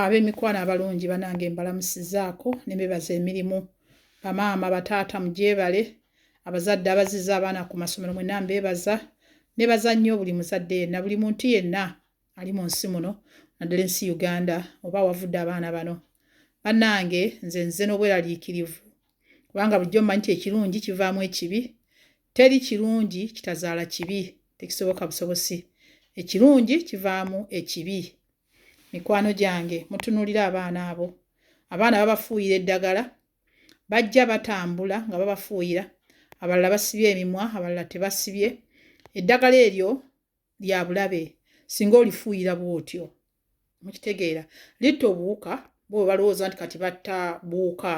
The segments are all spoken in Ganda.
ab'emikwano abalungi banange mbalamusizaako ne bebaza emirimu bamaama bataata mugyebale abazadde abaziza abaana ku masomero mwenna mbebaza nebaza nnyo buli muzadde yenna buli muntu yenna ali mu nsi muno naddala ensi uganda oba awavudde abaana bano banange nze nze n'obweraliikirivu kubanga bulijjo mmanyi nti ekirungi kivaamu ekibi teri kirungi kitazaala kibi tekisoboka busobosi ekirungi kivaamu ekibi mikwano gyange mutunuulira abaana abo abaana babafuuyira eddagala bajja batambula nga babafuuyira abalala basibye emimwa abalala tebasibye eddagala eryo lya bulabe singa olifuuyira bw'otyo mukitegeera litta obuwuka bwe balowooza nti kati batta buwuka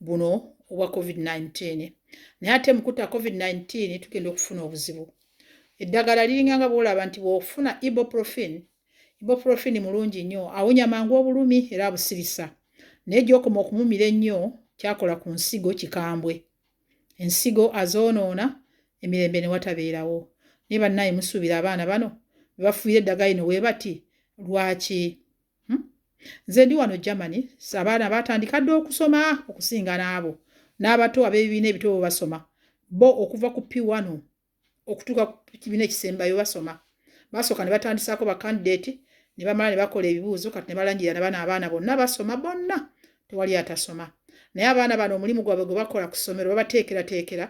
buno obwa covid-19 naye ate mukutta covid-19 tugenda okufuna obuzibu eddagala liringa nga bwolaba nti bwofuna iboprofin iboprofin mulungi nnyo awonya mangu obulumi era abusirisa naye gyokoma okumumira ennyo kyakola ku nsigo kikambwe ensigo azoonoona emirembe ne watabeerawo. Naye bannaaye musuubira abaana bano be bafuuyira eddagala lino bwe bati lwaki? Hmm? Nze ndi wano Germany, abaana baatandika dda okusoma okusinga n'abo n'abato ab'ebibiina ebito basoma bo okuva ku P1 okutuuka ku kibiina ekisembayo basoma basooka ne batandisaako bakandidate ne bamala ne bakola ebibuuzo kati ne balangira na bana abaana bonna basoma bonna tewali atasoma naye abaana bano omulimu gwabwe gwe bakola ku ssomero babateekerateekera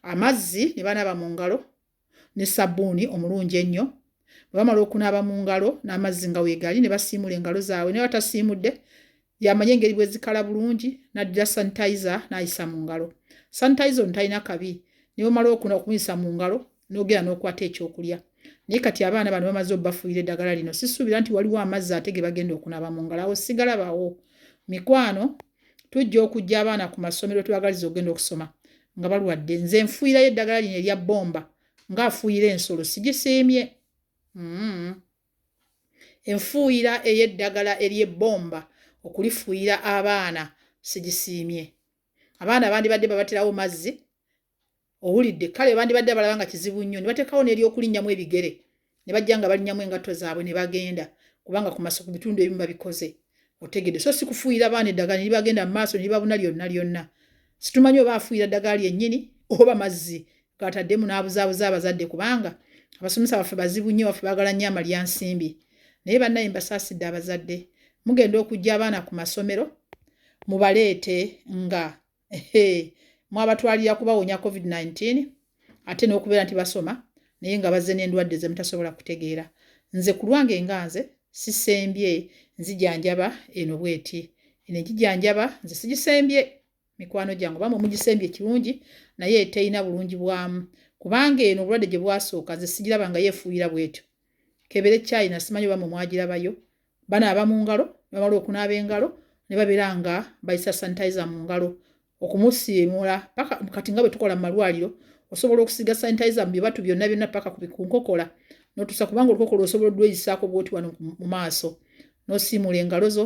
amazzi ne banaaba mu ngalo ne sabbuuni omulungi ennyo bwe bamala okunaaba mu ngalo n'amazzi nga weegali ne basiimula engalo zaabwe ne batasiimudde Y'amanyi engeri bwe zikala bulungi n'addira sanitayiza n'ayisa mu ngalo. Sanitayiza ono talina kabi ne bw'omala okuna okumuyisa mu ngalo n'ogenda n'okwata ekyokulya. Naye kati abaana bano bamaze obafuuyira eddagala lino sisuubira nti waliwo amazzi ate ge bagenda okunaaba mu ngalo awo sigalabawo. Mikwano tujja okujja abaana ku masomero twagaliza okugenda okusoma nga balwadde nze nfuuyirayo eddagala lino erya bbomba ng'afuuyira ensolo sigisiimye. Mm. Enfuuyira ey'eddagala ery'ebbomba okulifuuyira abaana sigisiimye. Abaana bandibadde babatirawo mazzi, owulidde, kale bandibadde abalaba nga kizibu nnyo ne bateekawo n'ery'okulinnyamu ebigere ne bajja nga balinnyamu engatto zaabwe ne bagenda kubanga ku bitundu ebimu babikoze. otegedde so sikufuuyira baana eddagala nibagenda mu maaso nibabuna lyonna lyonna situmanyi oba afuuyira ddagala lyennyini oba mazzi gataddemu n'abuzaabuza abazadde kubanga abasomesa baffe bazibu nnyo baffe baagala nnyo amalya nsimbi naye bannaye mbasaasidde abazadde mugenda okujja abaana ku masomero mubaleete nga mwabatwalira kubawonya covid-19 ate n'okubeera nti basoma naye nga bazze n'endwadde ze mutasobola kutegeera nze ku lwange nga nze sisembye nzijanjaba eno bweti eno egijanjaba nze sigisembye mikwano gyange oba mumugisembye kirungi naye terina bulungi bwamu kubanga eno obulwadde gye bwasooka nze sigiraba nga yeefuuyira bwetyo kebere china simanyi oba mwe mwagirabayo banaaba mu ngalo nebamala okunaaba engalo ne babeera nga bayisa sanitizer mu ngalo okumusiimuula paka kati nga bwe tukola mu malwaliro osobola okusiga sanitizer mu bibatu byonna byonna paka ku nkokola notusa kubanga olukokola osobola odweyisaako bwoti wano mu maaso nosiimuula engalo zo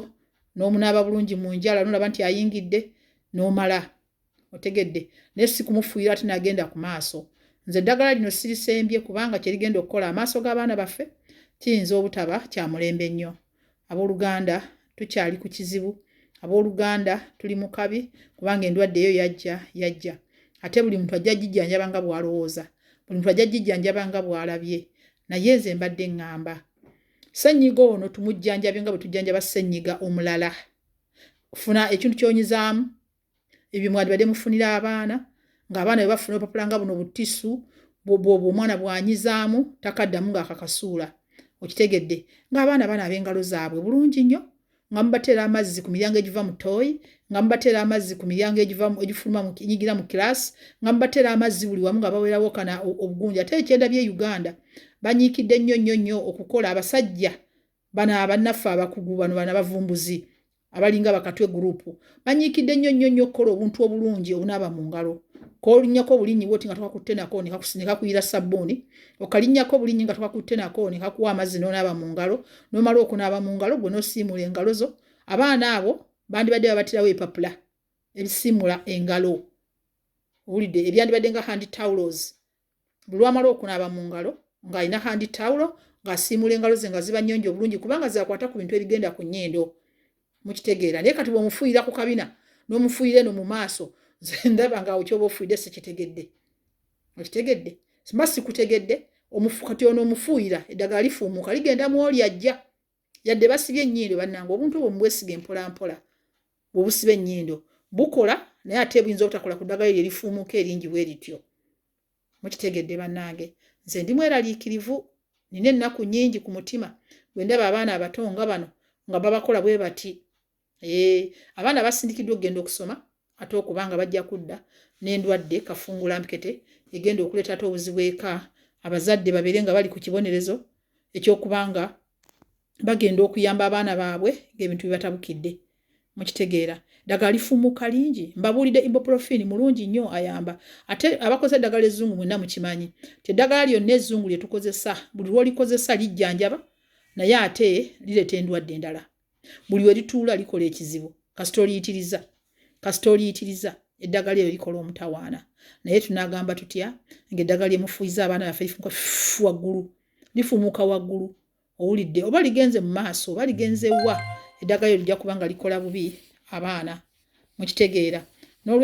n'omunaaba bulungi mu njala nolaba nti ayingidde n'omala otegedde naye si kumufuuyira ate nagenda ku maaso nze eddagala lino sirisembye kubanga kye rigenda okukola amaaso g'abaana baffe kiyinza obutaba kya mulembe nnyo abooluganda tukyali ku kizibu abooluganda tuli mu kabi kubanga endwadde eyo yajja yajja ate buli muntu ajja gijjanjaba nga bw'alowooza buli muntu ajja gijjanjaba nga bw'alabye naye nze mbadde ŋŋamba ssenyiga ono tumujjanjabe nga bwe tujjanjaba ssenyiga omulala funa ekintu kyonyizaamu ebyo mwandibadde mufunira abaana ng'abaana bwe bafuna obupapula nga buno butisu bwobwo omwana bwanyizaamu takaddamu ng'akakasuula okitegedde ng'abaana bana ab'engalo zaabwe bulungi nnyo nga mubateera amazzi ku miryango egiva mu tooyi nga mubateera amazzi ku miryango egifuluma enyigira mu kiraasi nga mubateera amazzi buli wamu nga bawerawo kana obugunja ate ekyenda by'e uganda banyiikidde nnyo nnyo nnyo okukola abasajja bano abannaffe abakugu bano bana bavumbuzi abalinga bakatwe gurupu banyiikidde nnyo nnyo nnyo okukola obuntu obulungi obunaaba mu ngalo kolinnyako obulinnyi bwoti nga tokakutte nako ne kakuyira sabbuuni okalinnyako obulinnyi nga tokakutte nako ne kakuwa amazzi n'onaaba mu ngalo n'omala okunaaba mu ngalo gwe n'osiimuula engalo zo abaana abo bandibadde babatirawo epapula ebisiimula engalo owulidde ebyandibadde nga handi taulos buli lwamala okunaaba mu ngalo ng'alina handi tawulo ng'asiimuula engalo ze nga ziba nnyonjo obulungi kubanga zakwata ku bintu ebigenda ku nnyindo mukitegeera naye kati bw'omufuuyira ku kabina n'omufuuyira eno mu maaso nze ndaba ngaawo kyoba ofuuyidde sikitegedde okitegedde mba sikutegedde kati ono omufuuyira eddagala lifuumuuka ligenda mu oli ajja yadde basibye ennyindo bannange obuntu obwo mubwesiga empolampola bwebusiba ennyindo bukola naye ate buyinza obutakola ku ddagala eryo erifuumuuka eringi bwe rityo mukitegedde bannange nze ndi mweraliikirivu nina ennaku nnyingi ku mutima bwe ndaba abaana abato nga bano nga babakola bwe bati Eh, abaana basindikiddwa okugenda okusoma ate okuba nga bajja kudda n'endwadde kafungulampkete egenda okuleeta ate obuzibu eka abazadde babeere nga bali ku kibonerezo ekyokuba nga bagenda okuyamba abaana baabwe ng'ebintu bibatabukidde mukitegeera ddagala lifumuka lingi mbabuulidde iboprofin mulungi nnyo ayamba ate abakozesa eddagala ezzungu mwenna mukimanyi ti eddagala lyonna ezzungu lye tukozesa buli lwolikozesa lijjanjaba naye ate lireeta endwadde endala buli we lituula likola ekizibu kasita oliyitiriza kasita oliyitiriza eddagala eyo likola omutawaana naye tunaagamba tutya ng'eddagala lyemufuyiza abaana baffe lifumuka waggulu lifumuka waggulu owulidde oba ligenze mu maaso oba ligenze wa eddagala eyo lijja kuba nga likola bubi abaana mukitegeera n'olwe